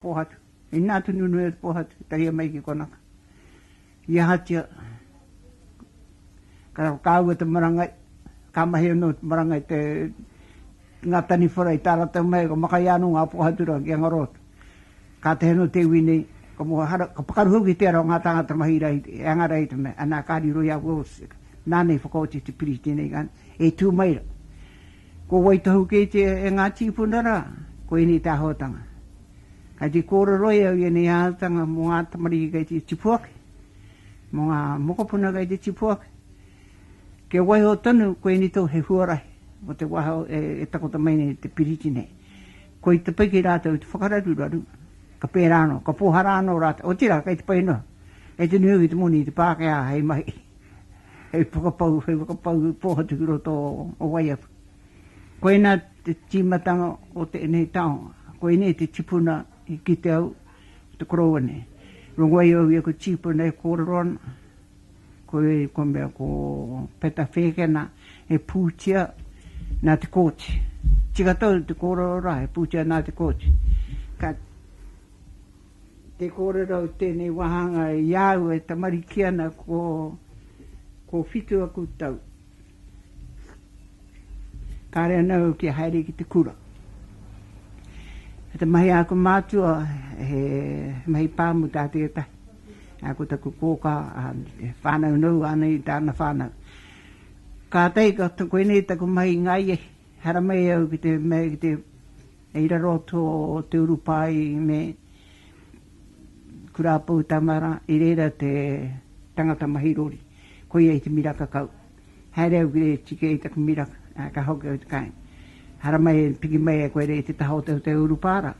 Pōhatu. Inā te nunui o te pōhatu i tahia mai ki konaka. I ahatia ka whakaahua te marangai, ka mahi anō te marangai te ngā taniwhara i tā rātou mahi, ka makaia anō ngā pōhatu rā ki a ngaro atu. Kātahi anō te iwi nei, ka moe hara, ka pakaru hoki ki te ara o ngā tāngata mahi rā, e anga rā i te mea, anā, ka riro i a Wills, nāna i whakaoti te piriti nei, e tū mai rā. Ko wai tohu kei te e ngā tīpuna rā, ko ēnei te āhuatanga. Kei te kōreroi au i ēnei āhuatanga mō ngā tamariki kei te tipu ake, mō ngā mokopuna kei te tipu ake, kia waiho tonu ko ēnei tohu he huarahi mō te wā e takoto mai nei te piriti nei. Ko i te pai ki rātou te whakararuraru, ka pērā anō, ka pōhara anō rātou, otirā kei te pai noa, kei te nui hoki te moni i te Pākehā hei mahi. Hei whakapau, hei whakapau pōhatu ki roto o Waiapu. Koinā te tīmatanga o tēnei taonga. Koinei te tipuna i kite au, ko te koroua nei. Rongoai au i aku tīpuna e kōrero ana, ko ēu ka mea ko Peta Whēkena he pūtea nā Te Kooti. Tika tau te kōrero rā, he pūtea nā Te Kooti. Ka. Te kōrero o tēnei wāhanga i a au e tamariki ana ko, Ko whitu aku tau, kāre ana au kia haere ki te kura. Te mahi a aku mātua he mahi pāmu tā tētahi. Nā, ko taku kōkā, he whānau noa ana i tāna whānau. Kātahi, koinei taku mahi i ngā iei, haramai au ki te, ki te. I raro tō te urupā i me Kura Poutamara, i reira te tangata mahi rori, koia i te miraka kau. Haere au ki re tike i taku miraka, ā, ka hoki au te kāinga. Haramai e piki mai e koe rei te taha o te te urupā rā,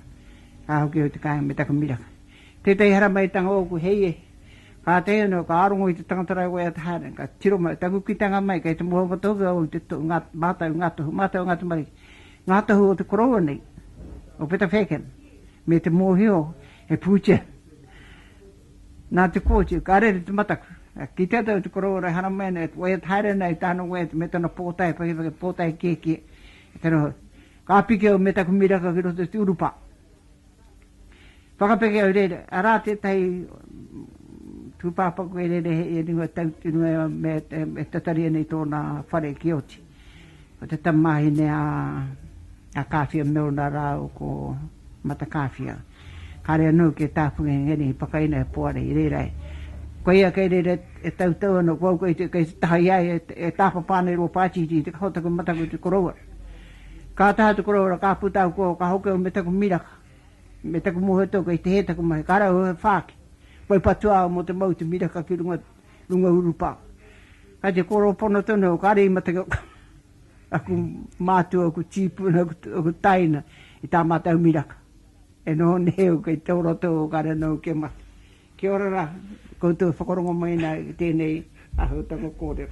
ka hoki au te kāinga me taku miraka. Tētahi haramaitanga ōku hei e, kātahi anō ka rongo i te tangata rāua i a Te Haerenga, ka tiro mai, taku kitanga mai kei te moho o Ngā Tohu Ō Te Tohu, ngā mātau, ngā tohu, mātau o ngā tamariki. Ngā tohu o te koroua nei, o Peta Feken, me te mōhio he pūtea nā Te Kooti, ka rere te mataku. Ka kitea tau te koroua e haramai ana, e waiata haere ana i tāna waiata me tana pōtae pakipaki, pōtae kiekie, e tana hau. Ka piki au me taku miraka ki roto i te urupā. Whakapeke au reira, arā tētahi tūpāpaku e rere hei e rua tau ki runga ia me e tataria nei tōna whare ki oti. Ko te tamāhine a a Kāwhia Milner rāua ko Matakāwhia. Kāre anō ki a Tāwhanga i ngēnei whakaina e Poari i reira ai. Ko ia kei reira e tautau ana ko au kei te taha i a ia e tāpapa ana i rō pātiti i te kaho taku mataku i te koroua. Ka taha te korohora, ka puta au kō, ka hoki au me taku miraka, me taku mohe tō kei te hē taku mahi, ka rauhau he whāki, whai patua au mō te mau i te miraka ki runga, runga urupā. Kai te kōrero pono tonu au, kāre i mataku, aku mātua, aku tīpuna, aku taina i tā mātou miraka. E noho nei au kei tō roto o kāre anō au kia mate. Kia ora rā, koutou e whakarongo mai ana i tēnei āhuatanga kōrero.